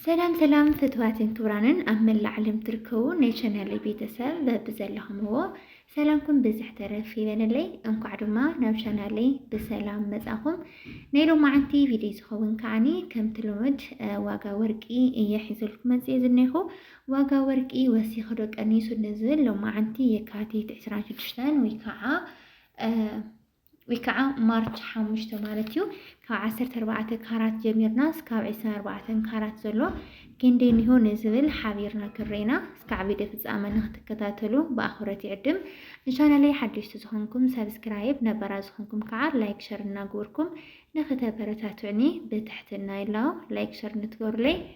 ሰላም ሰላም ፍትዋትን ክብራንን ኣብ መላእ ዓለም ትርከቡ ናይ ቻናለይ ቤተሰብ በብዘለኹምዎ ሰላምኩም ብዝሕ ተረፍ ይበለለይ። እንኳዕ ድማ ናብ ቻናለይ ብሰላም መጻኹም። ናይ ሎማዓንቲ ቪድዮ ዝኸውን ከዓኒ ከምቲ ልሙድ ዋጋ ወርቂ እየ ሒዘልኩም መጽየ ዝኔኹ። ዋጋ ወርቂ ወሲኹ ዶ ቀኒሱ ንዝብል ሎማዓንቲ የካቲት 26 ወይ ከዓ ወይ ከዓ ማርች ሓሙሽተ ማለት እዩ ካብ ዓሰርተ ኣርባዕተ ካራት ጀሚርና እስካብ ዕስራን ኣርባዕተን ካራት ዘሎ ክንደይ እኒሆ ንዝብል ሓቢርና ክረኢና እስካዕ ቪድዮ ፍፃመ ንክትከታተሉ ብኣኽብረት ይዕድም ንቻናለይ ሓደሽቲ ዝኾንኩም ሰብስክራይብ ነበራ ዝኾንኩም ከዓ ላይክ ሸር እናግበርኩም ንክተበረታትዕኒ ብትሕትና ይላው ላይክ ሸር ንትገብሩለይ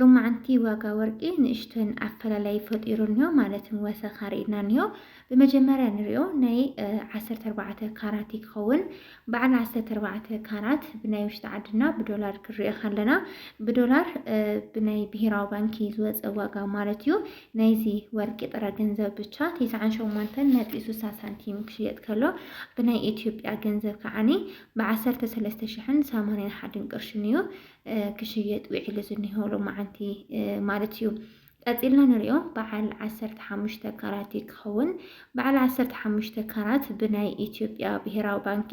ሎማዓንቲ ዋጋ ወርቂ ንእሽተን ኣፈላላይ ፈጢሩ እኒሆ ማለት ወሰኽ ኣርእና እኒሆ ብመጀመርያ ንሪኦ ናይ ዓሰርተ ኣርባዕተ ካራት እዩ ክኸውን። በዓል ዓሰርተ ኣርባዕተ ካራት ብናይ ውሽጢ ዓድና ብዶላር ክንሪኦ ከለና ብዶላር ብናይ ብሄራዊ ባንኪ ዝወፀ ዋጋ ማለት እዩ። ናይዚ ወርቂ ጥረ ገንዘብ ብቻ ቴስዓን ሸሞንተን ነጥቢ ስሳ ሳንቲም ክሽየጥ ከሎ ብናይ ኢትዮጵያ ገንዘብ ከዓኒ ብዓሰርተ ሰለስተ ሽሕን ሰማንያን ሓድን ቅርሽን እዩ ክሽየጥ ውዒሉ ዝኒሆ ሎማዓንቲ ማለት እዩ። ቀጺልና ንሪኦ በዓል ዓሰርተ ሓሙሽተ ካራት እዩ ክኸውን። በዓል ዓሰርተ ሓሙሽተ ካራት ብናይ ኢትዮጵያ ብሄራዊ ባንኪ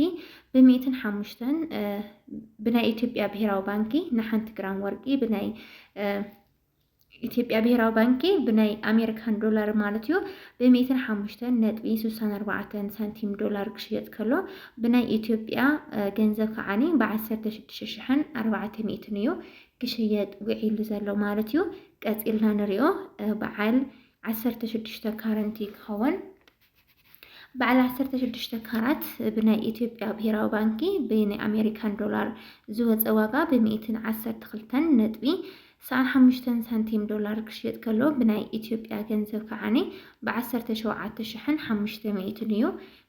ብሚእትን ሓሙሽተን ብናይ ኢትዮጵያ ብሄራዊ ባንኪ ንሓንቲ ግራም ወርቂ ብናይ ኢትዮጵያ ብሄራዊ ባንኪ ብናይ ኣሜሪካን ዶላር ማለት እዩ ብሚእትን ሓሙሽተን ነጥቢ ስሳን ኣርባዕተን ሳንቲም ዶላር ክሽየጥ ከሎ ብናይ ኢትዮጵያ ገንዘብ ከዓኒ ብዓሰርተ ሽዱሽተ ሽሕን ኣርባዕተ ሚእትን እዩ ክሽየጥ ውዒሉ ዘሎ ማለት እዩ። ቀፂልና ንሪኦ በዓል ዓሰርተ ሽዱሽተ ካረንት እዩ ክኸውን በዓል 16 ካራት ብናይ ኢትዮጵያ ብሄራዊ ባንኪ ብናይ ኣሜሪካን ዶላር ዝወፀ ዋጋ ብሚእትን ዓሰርተ ክልተን ነጥቢ ሰዓን ሓሙሽተን ሳንቲም ዶላር ክሽየጥ ከሎ ብናይ ኢትዮጵያ ገንዘብ ከዓኒ ብዓሰርተ ሸውዓተ ሽሕን ሓሙሽተ ሚእትን እዩ።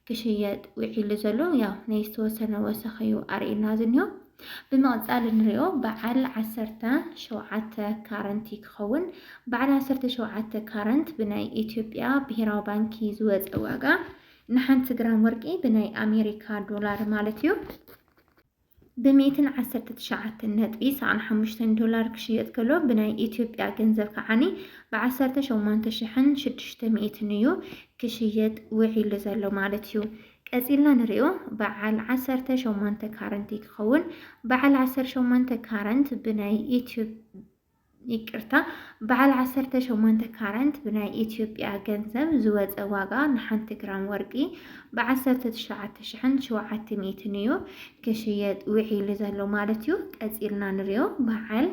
ክሽየጥ ውዒሉ ዘሎ ያው ናይ ዝተወሰነ ወሰኽ እዩ ኣርእዩና ዝኒሆ። ብምቕፃል እንሪኦ በዓል ዓሰርተ ሸውዓተ ካረንት ክኸውን። በዓል ዓሰርተ ሸውዓተ ካረንት ብናይ ኢትዮጵያ ብሄራዊ ባንኪ ዝወፀ ዋጋ ንሓንቲ ግራም ወርቂ ብናይ ኣሜሪካ ዶላር ማለት እዩ። ብሚእትን ዓሰርተ ትሽዓተን ነጥቢ ሰኣን ሓሙሽተን ዶላር ክሽየጥ ከሎ ብናይ ኢትዮጵያ ገንዘብ ከዓኒ ብዓሰርተ ሸሞንተ ሽሕን ሽዱሽተ ሚእትን እዩ ክሽየጥ ውዒሉ ዘሎ ማለት እዩ። ቀጺልና ንሪኦ በዓል ዓሰርተ ሸሞንተ ካረንት ክኸውን በዓል ዓሰርተ ሸሞንተ ካረንት ብናይ ኢትዮ ይቅርታ በዓል ዓሰርተ ሸሞንተ ካረንት ብናይ ኢትዮጵያ ገንዘብ ዝወፀ ዋጋ ንሓንቲ ግራም ወርቂ ብዓሰርተ ትሽዓተ ሽሕን ሸውዓተ ሚእትን እዩ ክሽየጥ ውዒሉ ዘሎ ማለት እዩ። ቀፂልና ንሪኦ በዓል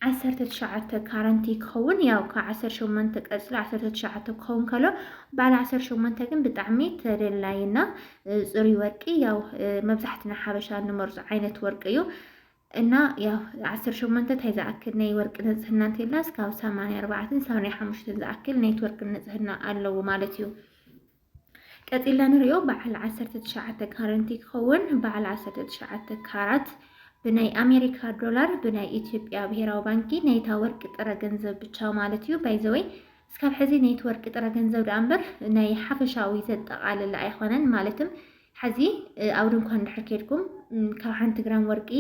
ዓሰርተ ትሽዓተ ካረንቲ ክኸውን ያው ካብ ዓሰርተ ሸሞንተ ቀፅሎ ዓሰርተ ትሽዓተ ክኸውን ከሎ በዓል ዓሰርተ ሸሞንተ ግን ብጣዕሚ ተደላይና ፅሩይ ወርቂ ያው መብዛሕትና ሓበሻ እንመርፆ ዓይነት ወርቂ እዩ። እና ያው ዓሰርተ ሸሞንተ ታይ ዝኣክል ናይ ወርቂ ንፅህና እንተልና እስካብ ሰማንያ ኣርባዕተን ሰማንያ ሓሙሽተን ዝኣክል ናይቲ ወርቂ ንፅህና ኣለዎ ማለት እዩ። ቀፂልና ንሪኦ በዓል ዓሰርተ ትሽዓተ ካረንቲ ክኸውን በዓል ዓሰርተ ትሽዓተ ካራት ብናይ ኣሜሪካ ዶላር ብናይ ኢትዮጵያ ብሄራዊ ባንኪ ናይታ ወርቂ ጥረ ገንዘብ ብቻ ማለት እዩ። ባይዘወይ እስካብ ሕዚ ኔትወርክ ጥረ ገንዘብ ደኣ እምበር ናይ ሓፈሻዊ ዘጠቓልል ኣይኾነን። ማለትም ሕዚ ኣብ ድንኳን እንድሕር ኬድኩም ካብ ሓንቲ ግራም ወርቂ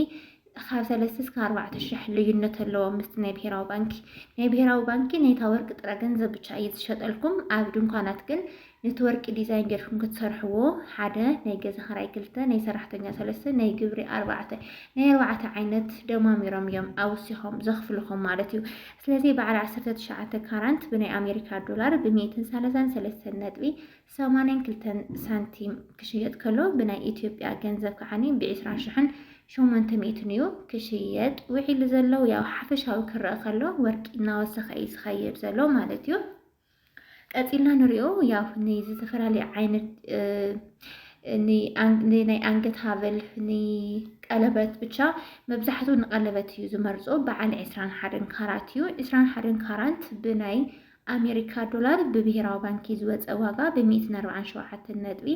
ካብ ሰለስተ እስከ ኣርባዕተ ሽሕ ልዩነት ኣለዎ ምስቲ ናይ ብሄራዊ ባንኪ። ናይ ብሄራዊ ባንኪ ናይታ ወርቂ ጥረ ገንዘብ ብቻ እዩ ዝሸጠልኩም። ኣብ ድንኳናት ግን ነቲ ወርቂ ዲዛይን ጌርኩም ክትሰርሕዎ ሓደ ናይ ገዛ ክራይ ክልተ ናይ ሰራሕተኛ ሰለስተ ናይ ግብሪ ኣርባዕተ ናይ ኣርባዕተ ዓይነት ደማሚሮም እዮም ኣውሲኾም ዘኽፍልኹም ማለት እዩ። ስለዚ በዓል ዓሰርተ ትሽዓተ ካራንት ብናይ ኣሜሪካ ዶላር ብሚእትን ሰለሳን ሰለስተን ነጥቢ ሰማንያን ክልተን ሳንቲም ክሽየጥ ከሎ ብናይ ኢትዮጵያ ገንዘብ ከዓኒ ብዒስራ ሽሕን ሸሞንተ ሚእትን እዩ ክሽየጥ ውዒሉ ዘሎ። ያው ሓፈሻዊ ክረአ ከሎ ወርቂ እናወሰኸ እዩ ዝኸይድ ዘሎ ማለት እዩ። ቀፂልና ንሪኦ ያው ንዝተፈላለዩ ዓይነት ናይ ኣንገት ሃበል ንቀለበት ብቻ መብዛሕትኡ ንቀለበት እዩ ዝመርፆ በዓል ዕስራን ሓደን ካራት እዩ። ዕስራን ሓደን ካራት ብናይ ኣሜሪካ ዶላር ብብሄራዊ ባንኪ ዝወፀ ዋጋ ብ147 ነጥቢ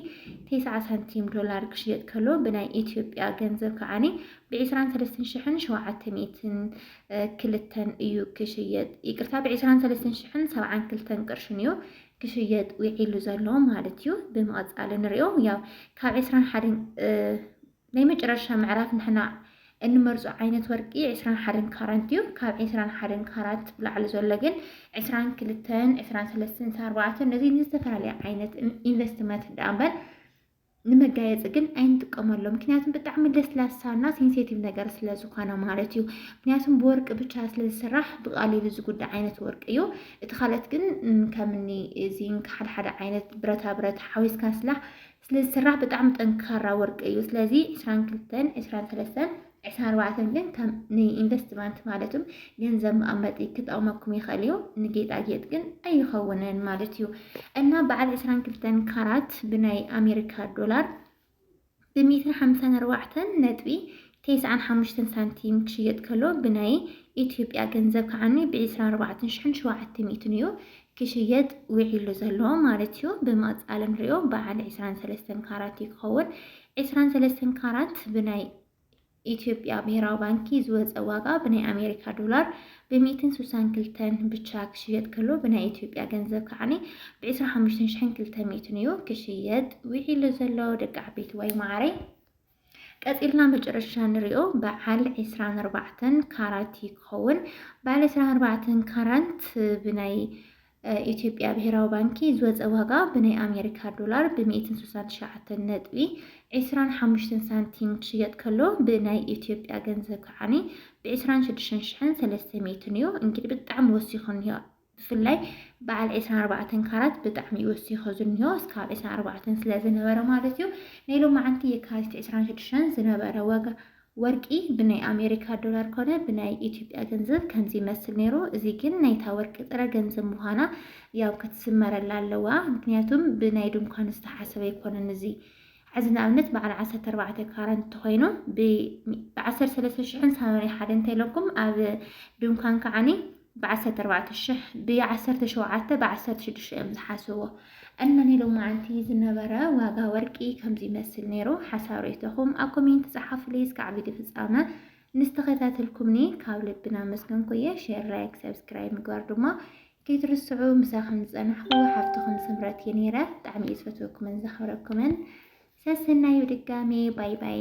90 ሳንቲም ዶላር ክሽየጥ ከሎ ብናይ ኢትዮጵያ ገንዘብ ከዓኒ ብ23700 ክልተን እዩ ክሽየጥ ይቅርታ ብዕስራን ሰለስተን ሽሕን ሰብዓን ክልተን ቅርሽን እዩ ክሽየጥ ውዒሉ ዘሎ ማለት እዩ ብምቐፃል ንሪኦ ያው ካብ ዕስራን ሓደን ናይ መጨረሻ ምዕራፍ ንሕና እንመርፆ ዓይነት ወርቂ ዕስራን ሓደን ካራት እዩ። ካብ ዕስራን ሓደን ካራት ብላዕሊ ዘሎ ግን ዕስራን ክልተን ዕስራን ሰለስተን ኣርባዕተን ነዚ ንዝተፈላለየ ዓይነት ኢንቨስትመንት ዳኣ እምበር ንመጋየፂ ግን ኣይንጥቀመሎም ምክንያቱም ብጣዕሚ ለስላሳና ሴንሴቲቭ ነገር ስለ ዝኾነ ማለት እዩ። ምክንያቱም ብወርቂ ብቻ ስለ ዝስራሕ ብቃሊሉ ዝጉዳእ ዓይነት ወርቂ እዩ። እቲ ካልኦት ግን ከምኒ ዚንክ ሓደ ሓደ ዓይነት ብረታ ብረት ሓዊስካ ስላሕ ስለ ዝስራሕ ብጣዕሚ ጠንካራ ወርቂ እዩ። ስለዚ ዕስራን ክልተን ዕስራን ሰለስተን ዕስራን ኣርባዕተን ግን ከም ንኢንቨስትመንት ማለት ም ገንዘብ መቐመጢ ክጠቕመኩም ይኽእል እዩ። ንጌጣጌጥ ግን ኣይኸውንን ማለት እዩ እና በዓል ዕስራን ክልተን ካራት ብናይ ኣሜሪካ ዶላር ብሜትር ሓምሳን ኣርባዕተን ነጥቢ ተስዓን ሓሙሽተን ሳንቲም ክሽየጥ ከሎ ብናይ ኢትዮጵያ ገንዘብ ከዓኒ ብዒስራን ኣርባዕተን ሽሕን ሸውዓተ ሚእትን እዩ ክሽየጥ ውዒሉ ዘሎ ማለት እዩ። ብመቕፃል ንሪኦ በዓል ዒስራን ሰለስተን ካራት እዩ ክኸውን። ዕስራን ሰለስተን ካራት ብናይ ኢትዮጵያ ብሄራዊ ባንኪ ዝወፀ ዋጋ ብናይ ኣሜሪካ ዶላር ብሚእትን ስሳን ክልተን ብቻ ክሽየጥ ከሎ ብናይ ኢትዮጵያ ገንዘብ ከዓኒ ብዕስራ ሓሙሽተን ሽሕን ክልተ ሚእትን እዩ ክሽየጥ ውዒሉ ዘሎ ደቂ ዓበይቲ ዋይ ማዓረይ ቀፂልና መጨረሻ ንሪኦ በዓል ዕስራን ኣርባዕተን ካራት ክኸውን በዓል ዕስራን ኣርባዕተን ካራት ብናይ ኢትዮጵያ ብሄራዊ ባንኪ ዝወፀ ዋጋ ብናይ ኣሜሪካ ዶላር ብሚእትን ስሳን ትሽዓተን ነጥቢ ዒስራን ሓሙሽተን ሳንቲም ክሽየጥ ከሎ ብናይ ኢትዮጵያ ገንዘብ ከዓኒ ብዒስራን ሽዱሽተን ሽሕን ሰለስተ ሚእትን እዩ። እንግዲህ ብጣዕሚ ወሲኹ እኒሆ ብፍላይ በዓል ዒስራን ኣርባዕተን ካራት ብጣዕሚ እዩ ወሲኹ ዝኒሆ እስካብ ዒስራን ኣርባዕተን ስለ ዝነበረ ማለት እዩ። ናይ ሎማዓንቲ የካቲት ዒስራን ሽዱሽተን ዝነበረ ዋጋ ወርቂ ብናይ ኣሜሪካ ዶላር ኮነ ብናይ ኢትዮጵያ ገንዘብ ከምዚ ይመስል ነይሩ እዚ ግን ናይታ ወርቂ ጥረ ገንዘብ ምዃና ያው ክትስመረላ ኣለዋ ምክንያቱም ብናይ ድንኳን ዝተሓሰበ ኣይኮነን እዚ ሕዚ ንኣብነት በዓል ዓሰርተ ኣርባዕተ ካራን እንተኾይኑ ብዓሰርተ ሰለስተ ሽሕን ሰማንያ ሓደን እንተኢለኩም ኣብ ድንኳን ከዓኒ ብዓሰርተ ኣርባዕተ ሽሕ ብዓሰርተ ሸውዓተ ብዓሰርተ ሽዱሽተ እዮም ዝሓስብዎ እና ናይ ሎማዓንቲ ዝነበረ ዋጋ ወርቂ ከምዚ ይመስል ነይሩ ሓሳብ ርእይቶኹም ኣብ ኮሜንት ጸሓፉለይ እስካዕ ቪድዮ ፍጻመ ንስተኸታተልኩምኒ ካብ ልብና ኣመስገንኩ እየ ሼር ላይክ ሰብስክራይብ ምግባር ድማ ከይትርስዑ ምሳኸም ዝጸናሕኩ ሓፍትኹም ስምረት እየ ነይረ ብጣዕሚ እየ ዝፈትወኩምን ዘኽብረኩምን ሰሰናዩ ድጋሜ ባይ ባይ